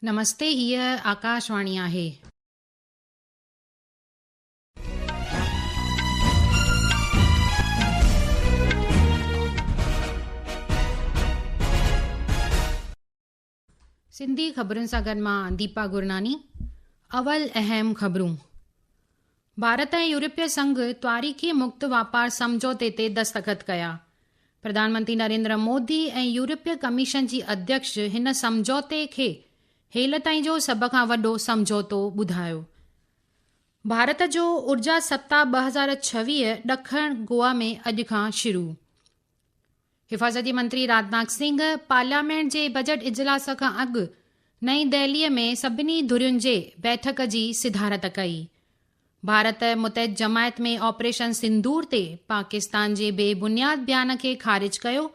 نمستي هيء آڪاشواڻي آهي. سنڌي خبرن سان گڏ مان ديپا گرناني اول اهم خبرون. ڀارت ۽ يورپي سنگهه تواريخي مڪت واپار سمجهوتي تي دستخط ڪيا، پرڌانمنتري نريندر مودي ۽ يورپي ڪميشن جي اڌيڪش هن سمجهوتي کي هيل تائين جو سڀ کان وڏو سمجهوتو ٻڌايو. ڀارت جو اورجا سپتاهه ٻه هزار ڇويهه ڏکڻ گوا ۾ اڄ کان شروع. حفاظتي منتري راجناٿ سنگهه پارليامينٽ جي بجيٽ اجلاس کان اڳ نئين دهلي ۾ سڀني ڌرين جي بيٺڪ جي صدارت ڪئي. ڀارت متحد جماعت ۾ آپريشن سندور تي پاڪستان جي بي بنياد بيان کي خارج ڪيو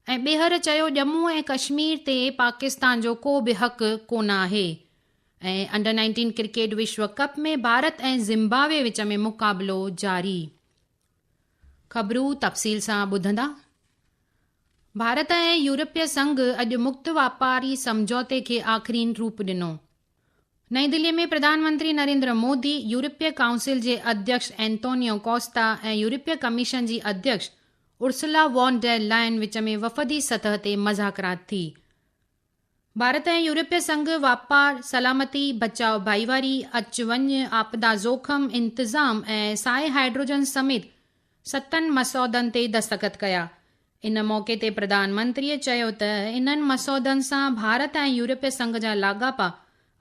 ۽ ٻيهر چيو ڄمون ۽ ڪشمير تي پاڪستان جو ڪو به حق ڪونه آهي ۽ انڊر نائنٽين ڪرڪيٽ وشو ڪپ ۾ ڀارت ۽ زمبابوي وچ ۾ مقابلو جاري خبرون تفصيل سان ٻڌندا، ڀارت ۽ يورپي سنگهه اڄ مڪت واپاري سمجهوتي کي آخرين روپ ڏنو. نئين دهلي ۾ پرڌان منتري نريندر مودي يورپي ڪائونسل جي اڌيڪش اينتونيو ڪوسٽا ۽ يورپي ڪميشن جي اڌيڪش ارسلا وان ڊير لائن وچ ۾ وفدي سطح تي مذاڪرات ٿي. ڀارت ۽ يورپي سنگهه واپار، سلامتي، بچاء ڀائيواري، اچ وڃ، آپدا زوخم انتظام ۽ سائي هائيڊروجن سميت ستن مسودن تي دستخط ڪيا. ان موقعي تي پرڌان منتريء چيو ته انهن مسودن سان ڀارت ۽ يورپي سنگهه جا لاڳاپا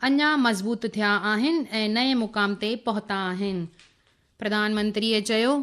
اڃا مضبوط ٿيا آهن ۽ نئين مقام تي پهتا آهن. پرڌان منتريء چيو.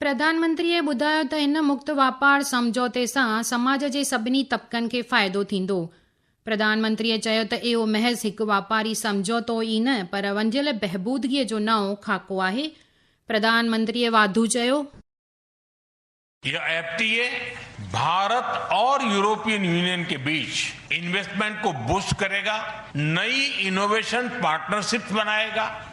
پرڌانمنتريء ٻڌايو ته هن مڪت واپار سمجهوتي سان سماج جي سڀني طبقن کي فائدو ٿيندو. پرڌانمنتريء چيو ته اهو محض هڪ واپاري سمجهوتو ئي نه پر ونڊيل بهبودگيء جو نئون خاڪو آهي. پرڌانمنتريء واڌو چيو. هيء ايف ٽي اي ڀارت اور يورپين يونين ڪي بيچ انويسٽمينٽ ڪو بوسٽ ڪري گا، نئي انوويشن پارٽنرشپس بنائي گا،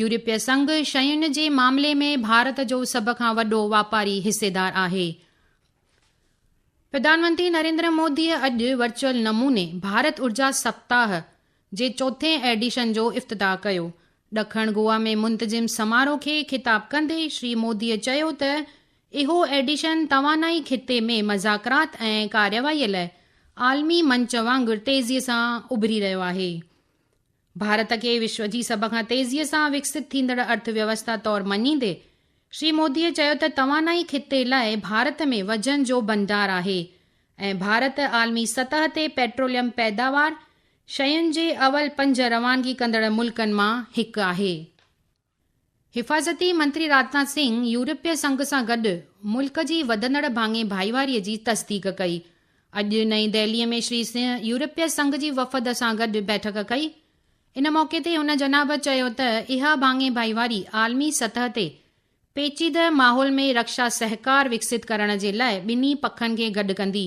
يورپي سنگهه شين جي معاملي ۾ ڀارت جو سڀ کان وڏو واپاري حصيدار آهي. پرڌانمنتري نريندر مودي اڄ ورچوئل نموني ڀارت ارجا سپتاهه جي چوٿين ايڊيشن جو افتتاح ڪيو. ڏکڻ گوا ۾ منتظم سماروهه کي خطاب ڪندي شري مودي چيو ته اهو ايڊيشن توانائي خطي ۾ مذاڪرات ۽ ڪارروائي لاء عالمي منچ وانگر تيزي سان اڀري رهيو آهي. ڀارت کي وشو جي سڀ کان تيزيء سان وڪسيت ٿيندڙ ارٿ ويوسٿا طور مڃيندي شري موديء چيو ته توانائي خطي لاء ڀارت ۾ وجهن جو ڀنڊار آهي ۽ ڀارت عالمي سطح تي پيٽروليم پيداوار شين جي اول پنج روانگي ڪندڙ ملڪن مان هڪ آهي. حفاظتي منتري راجناٿ سنگهه يورپي سنگهه سان گڏ ملڪ جي وڌندڙ ڀاڱي ڀائيواري جي تصديق ڪئي. اڄ نئين دهلي ۾ شري سنگهه يورپي سنگهه جي وفد سان گڏ بيٺڪ ڪئي. ان موقعي تي هن جناب چيو ته اها ڀاڱي ڀائيواري عالمي سطح تي پيچيده ماحول ۾ رڪشا سهڪار وڪسيت ڪرڻ جي لاء ٻنهي پکن کي گڏ ڪندي.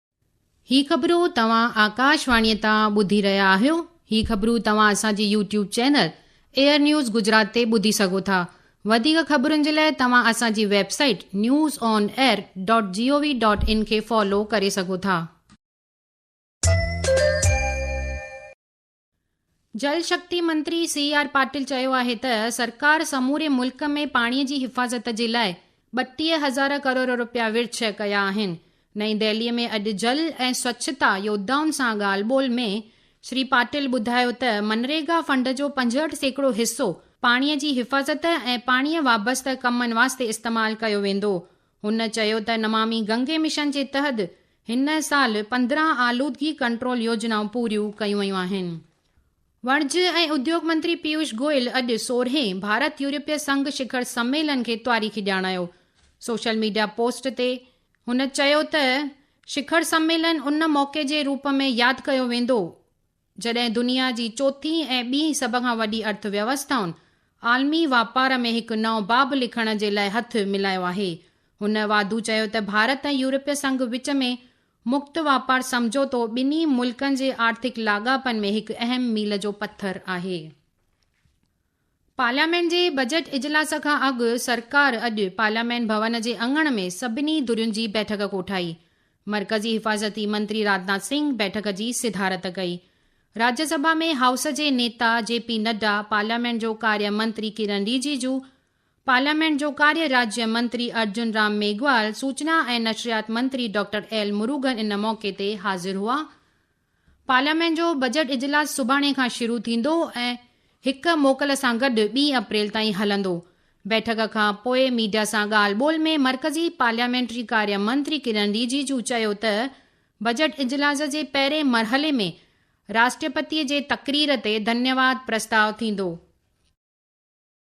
هي خبرون توهان آڪاش واڻيء تان ٻڌي رهيا آهيو. هي خبرون توهان اسان جي YouTube channel air news Gujarat تي ٻڌي سگهو ٿا. وڌيڪ خبرن جي لاء توهان اسان جي website news on air dot G O V dot in کي فالو ڪري سگهو ٿا. جل شڪتي منتري سي آر پاٽل چيو آهي ته سرڪار سموري ملڪ ۾ پاڻي جي حفاظت جي لاء ٻٽيهه هزار ڪروڙ رپيا ورڇ ڪيا آهن. نئين دهلي ۾ اڄ جل ۽ سوڇتا يودائن سان ڳالهه ٻولهه ۾ شري پاٽل ٻڌايو ته منريگا فنڊ جو پنجهٺ سيڪڙو حصو پاڻي جي حفاظت ۽ پاڻي وابسته ڪمن واسطي استعمال ڪيو ويندو. هن چيو ته نمامي گنگي مشن جي تحد هن سال پندرهن آلودگي ڪنٽرول يوجنائون پوريون ڪيون ويون آهن. وڻج ۽ اديوگ منتري پيوش گوئل اڄ سورهين ڀارت يورپي سنگهه شکر سميلن کي تاريخي ڄاڻايو. سوشل ميڊيا پوسٽ تي هن چيو ته شکر سميلن ان موقعي جي روپ ۾ ياد ڪيو ويندو، جڏهن دنيا جي چوٿين ۽ ٻي سڀ کان وڏي ارٿ ويوسٿائن عالمي واپار ۾ هڪ نئون باب لکڻ جي لاء هٿ ملايو آهي. هن واڌو چيو ته ڀارت ۽ يورپي سنگهه وچ ۾ مڪت واپار سمجهوتو ٻنهي ملڪن جي آرٿڪ لاڳاپن ۾ هڪ اهم ميل جو پٿر آهي. پارليامينٽ جي بجيٽ اجلاس کان اڳ سرڪار اڄ پارليامينٽ ڀون جي اڱڻ ۾ سڀني ڌرين جي بيٺڪ ڪوٺائي، مرڪزي حفاظتي منتري راجناٿ سنگهه بيٺڪ جي صدارت ڪئي. راجيا سڀا ۾ هائوس جي نيتا جي پي نڊا، پارليامينٽ جو ڪاريه منتري ڪرن ريجيجو، پارليامينٽ جو ڪاريه راجيه منتري ارجن رام ميگهوال، سوچنا ۽ نشريات منتري ڊاڪٽر ايل مروگن ان موقعي تي حاضر هئا. پارليامينٽ جو بجيٽ اجلاس سڀاڻي کان شروع ٿيندو ۽ هڪ موڪل سان گڏ ٻي اپريل تائين هلندو. بيٺڪ کان پوء ميڊيا سان ڳالهه ٻولهه ۾ مرڪزي پارليامينٽري ڪاريه منتري ڪرن ريجيجو چيو ته بجيٽ اجلاس جي پهرين مرحلي ۾ راشٽرپتي جي تقرير تي ڌنيواد پرستاء ٿيندو.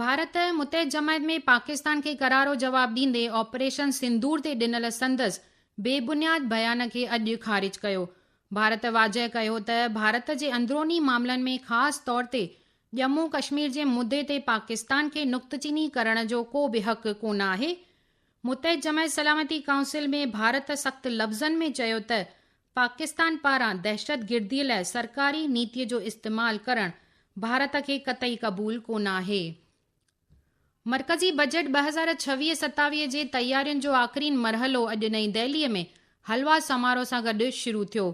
ڀارت متحد جماعت ۾ پاڪستان کي ڪرارو جواب ڏيندي آپريشن سندور تي ڏنل سندس بي بنياد بيان کي اڄ خارج ڪيو. ڀارت واضح ڪيو ته ڀارت جي اندروني معاملن ۾ خاص طور تي ڄمون ڪشمير جي مدي تي پاڪستان کي نقطه چيني ڪرڻ جو ڪو به حق ڪونه آهي. متحد جماعت سلامتي ڪائونسل ۾ ڀارت سخت لفظن ۾ چيو ته پاڪستان پاران دهشتگردي لاء سرڪاري نيتي جو استعمال ڪرڻ ڀارت کي قطعي قبول ڪونه آهي. مرڪزي بجيٽ ٻه هزار ڇويهه ستاويهه جي تيارين جو آخرين مرحلو اڄ نئين دهلي ۾ حلوا سمارو سان گڏ شروع ٿيو.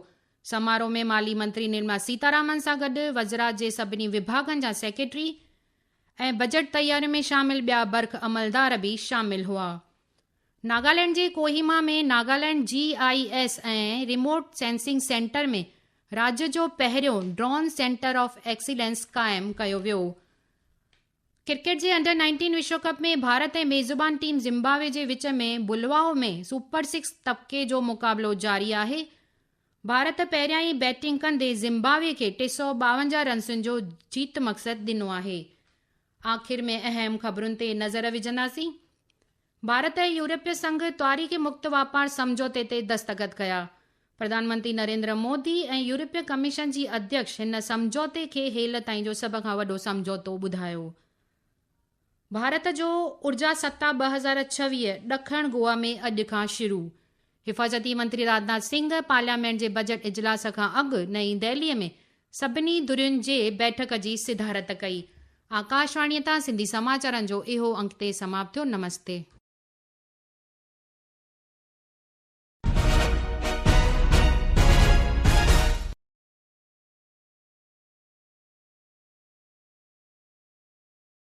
سمارو ۾ مالي منتري نرملا سيتارامن سان گڏ وزرا جي سڀني وڀاڳن جا سيڪريٽري ۽ بجيٽ تيارين ۾ شامل ٻيا برک عملدار به شامل هئا. ناگالينڊ جي ڪوهيما ۾ ناگالينڊ جي I S ۽ remote sensing centre ۾ راڄ جو پهريون ڊرون سينٽر آف ايڪسيلنس قائم ڪيو ويو. ڪرڪيٽ جي انڊر نائنٽين وشو ڪپ ۾ ڀارت ۽ ميزبان ٽيم زمبابوي جي وچ ۾ بلواء ۾ سپر سڪس طبقي جو مقابلو جاري آهي. ڀارت پهريائين بيٽنگ ڪندي زمبابوي کي ٽي سؤ ٻاونجاهه رنسن جو جيت مقصد ڏنو آهي. آخر ۾ اهم خبرن تي نظر وجهنداسين، ڀارت ۽ يورپي سنگهه تاريخي مڪت واپار سمجهوتي تي دستخط ڪيا، پرڌانمنتري نريندر مودي ۽ يورپي ڪميشن جي اڌيڪش هن سمجهوتي کي هيل تائين جو سڀ کان وڏو سمجهوتو ٻڌايو. ڀارت جو اورجا ستاء ٻه هزار ڇويهه ڏکڻ گوا ۾ اڄ کان شروع، حفاظتي منتري راجناٿ سنگهه پارليامينٽ جي بجيٽ اجلاس کان اڳ نئين دهلي ۾ سڀني ڌرين جي بيٺڪ جي صدارت ڪئي. آڪاشواڻي تان سنڌي سماچارن جو اهو انڪ اتي سماپت ٿيو. نمستي.